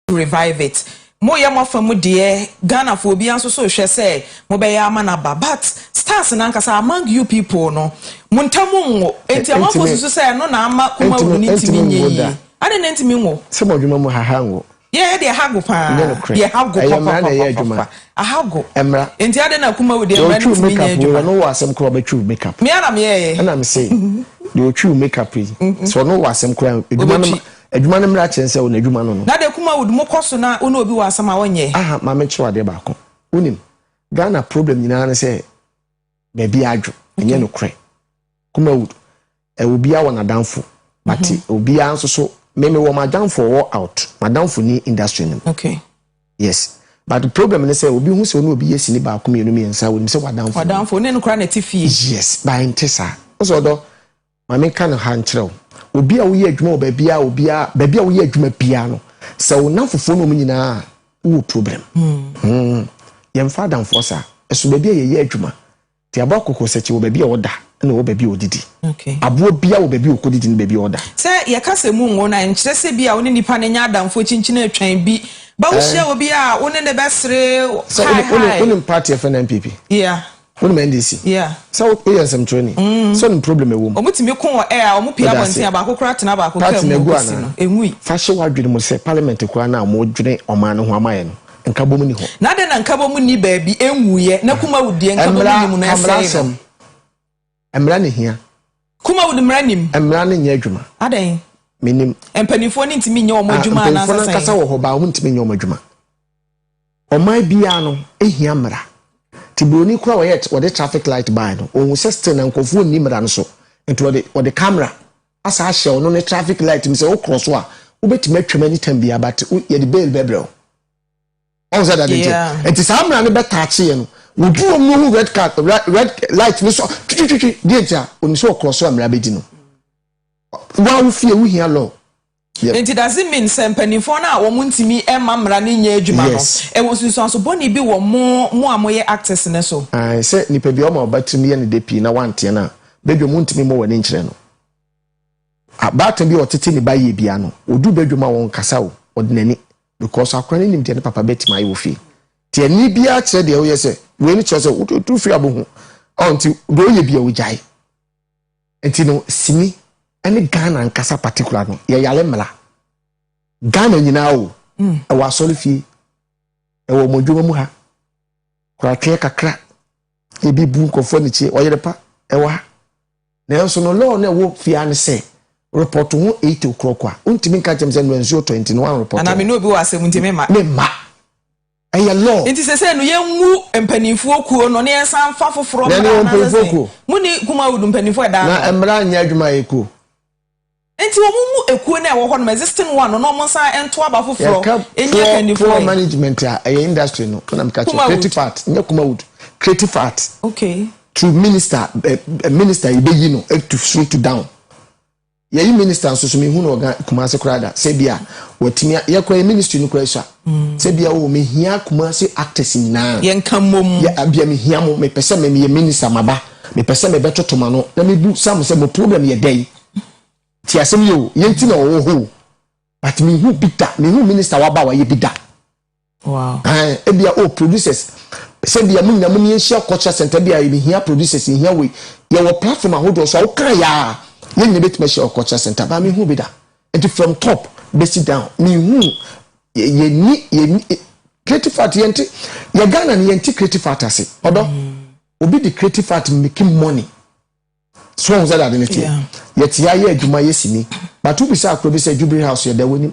to revive it mo yɛ mo afa mu deɛ Ghana foɔ obiara nso so rehwɛ sɛ mo bɛyɛ ama no aba but stars no ankasa among you people no mo ntamu nwo nti amanfoɔ susu sɛ ɛno na ama kuma wunu no ntumi nyɛ yie adɛn na ntumi nwo sɛ mo adwuma mu haha nwo yɛ deɛ ha go paa deɛ ha go papapapapafa aha go nti adɛn na kuma wo deɛ mmara no ntumi nyɛ adwuma ɔno wɔ asɛm koraa ɔbɛtwiw makeup mmea na meyɛɛ ɛna me se deɛ ɔtwiw makeup yi sɛ ɔno wɔ asɛm koraa adwuma no Adwuma no mmara kyerɛ sɛ wo na adwuma no no. Dada Kumawood mo kɔ so na wo ne obi wɔ asɛm a wɔnyɛ. Aha ma menkyerɛ wo adeɛ baako. Wonim, Ghana problem nyinaa ne sɛ baabi adwo. Ɛnyɛ nokorɛ. Kumawood, eh, obiara wɔ n'adamfo. But mm -hmm. obiara nso so, me mewɔ m'adamfo ɔwɔ out. M'adamfo ni industry no mu. Okay. Yes. But problem ne sɛ obi hu sɛ ɔne obi yɛ sini baako mmienu mmiɛnsa, wonim sɛ wadamfo. Wadamfo, ne no koraa na ɛte fie. Yes, but ɛnte saa. Wo sɛ ɔdɔ Ma menka no ha nkyerɛ wo, obi a woyɛ adwuma wɔ baabi a obiara, baabi a woyɛ adwuma biara no, sɛ wo nnamfofoɔ ne wɔn nyinaa a, wowɔ problem. Hmm, yɛmfa adamfoɔ saa. Ɛso baabi a yɛyɛ adwuma. Te aboa kɔkɔɔ sɛkyi wɔ baabi a ɔda na ɔwɔ baabi a ɔdidi. Aboa biara wɔ baabi a ɔkɔdidi ne baabi a ɔda. Sɛ yɛka sɛ mu nwo no a, ɛnkyerɛ sɛ ebia wo ne nipa no nyɛ adamfoɔ kyinkyin atwan bi. Ba wohyia obi a, wo ne no bɛsere, hi hi. Sɛ wonim party a yɛfrɛ no NPP? Yeah. Wonim NDC? Yeah. Sɛ wo yɛ nsɛmtwerɛni? Mm. Sɛ wonim problem ɛwɔ mu? Ɔmo tumi ko wɔ air a ɔmo pie abɔnten a baako koraa tena baako kaa mu ɔkɔsi no. Ɛnwui. Fa hyɛ w'adwene mu sɛ parliament koraa no a ɔmo dwene ɔman no ho ama yɛ no nkabom nni hɔ. Na adɛn na nkabom nni baabi ɛnwuiɛ na kumawudie nkabom nni mu na ɛsɛe no? Mmara na ehia. Kuma wɔ mmara nim. Mmara no nyɛ adwuma. Adɛn? Menim. Mpanimfoɔ no ntumi nyɛ wɔn ah, adwuma anaasɛ sɛn? Mpanimfoɔ no ankasa wɔ hɔ baa wɔn ntumi nyɛ wɔn adwuma. Ɔman biara no ehia mmara. Ti buroni kura wɔyɛ wɔde traffic light ban no ohun sɛ still na nkurɔfoɔ nni mmara no so nti wɔde wɔde camera asa ahyɛ ɔno ne traffic light mu sɛ wokorɔ so a wobɛtumi atwam anytime biara but yɛde bail bɛbrɛ wo. ɔn sɛ dade nti nti saa mmara no bɛtaakye yɛ no wɔdu wɔn no ho red card red light no so twitwitwi deɛ nti a onim sɛ ɔkorɔ so a mmara bɛdi no wa wo fie wohia law nti does it mean sɛ mpanimfoɔ no a wɔn ntumi mma mmara no nyɛ adwuma no ɛwɔ nsunsuanso bɔne bi wɔ mo mo a moyɛ actors no so sɛ nipa bi ɔma ɔba tirim yɛ ne de pii na wanteɛ no a bɛdwam wontumi mmɔ w'ani nkyerɛ no abaatan bi a ɔtete ne ba yie bia no ɔdu bɛdwam a wɔnkasa o ɔde n'ani Because akora no nim deɛ ne papa bɛtumi ayɛ wɔ fie nti ɛnne biara kyerɛ deɛ woyɛ sɛ wei no kyerɛ sɛ wotu firi abohu ɔ nti deɛ woyɛ bia wogyae nti no sini ɛne Ghana nkasa particular no yɛyare mmara Ghana nyinaa o hmm. ɛwɔ asɔre fie ɛwɔ ɔmo adwuma mu ha koratweɛ kakra Ebi bu nkurɔfoɔ anikye, ɔyere pa, ɛwɔ ha. Nanso no law no a ɛwɔ fie ha ne sɛ, report ho eight o'clock a, wontumi nka nkyerɛ me sɛ nnura nsuo tɔe nti no woanreport ho. Anaa me ne obi wɔ asɛm nti memma. Memma. Ɛyɛ law. Nti sesei no yɛngu mpaninfoɔ kuo no na yɛnsan mfa foforɔ mmra anaasɛ sɛn? Mo ne Kumawood mpaninfoɔ a ɛda ano? Na mmara nyɛ adwuma a ɛyɛ kuo. Enti wɔmmu ekuo no a ɛwɔ hɔ nom, existing one, no na wɔnsan nto aba foforɔ Yɛka nni poor akandifoɔ poor ɛ. management a ɛyɛ industry no na meka kyerɛ Kumawood. creative art nyɛ Kumawood creative art Okay. through minister ɛ ɛ minister yɛbɛyi no ɛ to through to down yɛyi minister nso so menhu no wɔ Gha Kumasi koraa da sɛ bi a watumi a yɛkora yɛ ministry no koraa sua. Sɛ bia o me hia kumasi actors nyinaa. Yɛ nka mmom. Yɛ a bia me hia mo me pɛ sɛ me me yɛ minister ma ba me pɛ sɛ me bɛ toto ma no na me bu sa mo sɛ mo problem yɛ dɛn ti asɛm yɛ o yɛ nti na ɔwɔ hɔ o but me hu bi da me hu minister wa ba wa yɛ bi da. Wow. Ae ebia o producers sɛ bia mo nyinaa mo ni yɛ nhyia culture center bia yɛ me hia producers yɛ hia wei yɛ wɔ platform ahodoɔ so a wo kan yɛ a yɛ nyinaa bɛ tuma hyia wɔ culture center ba me hu bi da. Nti from top bɛsi down menhuu yɛni yɛni creative art yɛnte yɛ Ghana no yɛnte creative art ase ɔdɔ obi de creative art making money so ɔhu sɛ dade ne teɛ yɛte ayɛ adwuma yɛ sini bato bi sɛ akoro bi sɛ jubilee house yɛda w'anim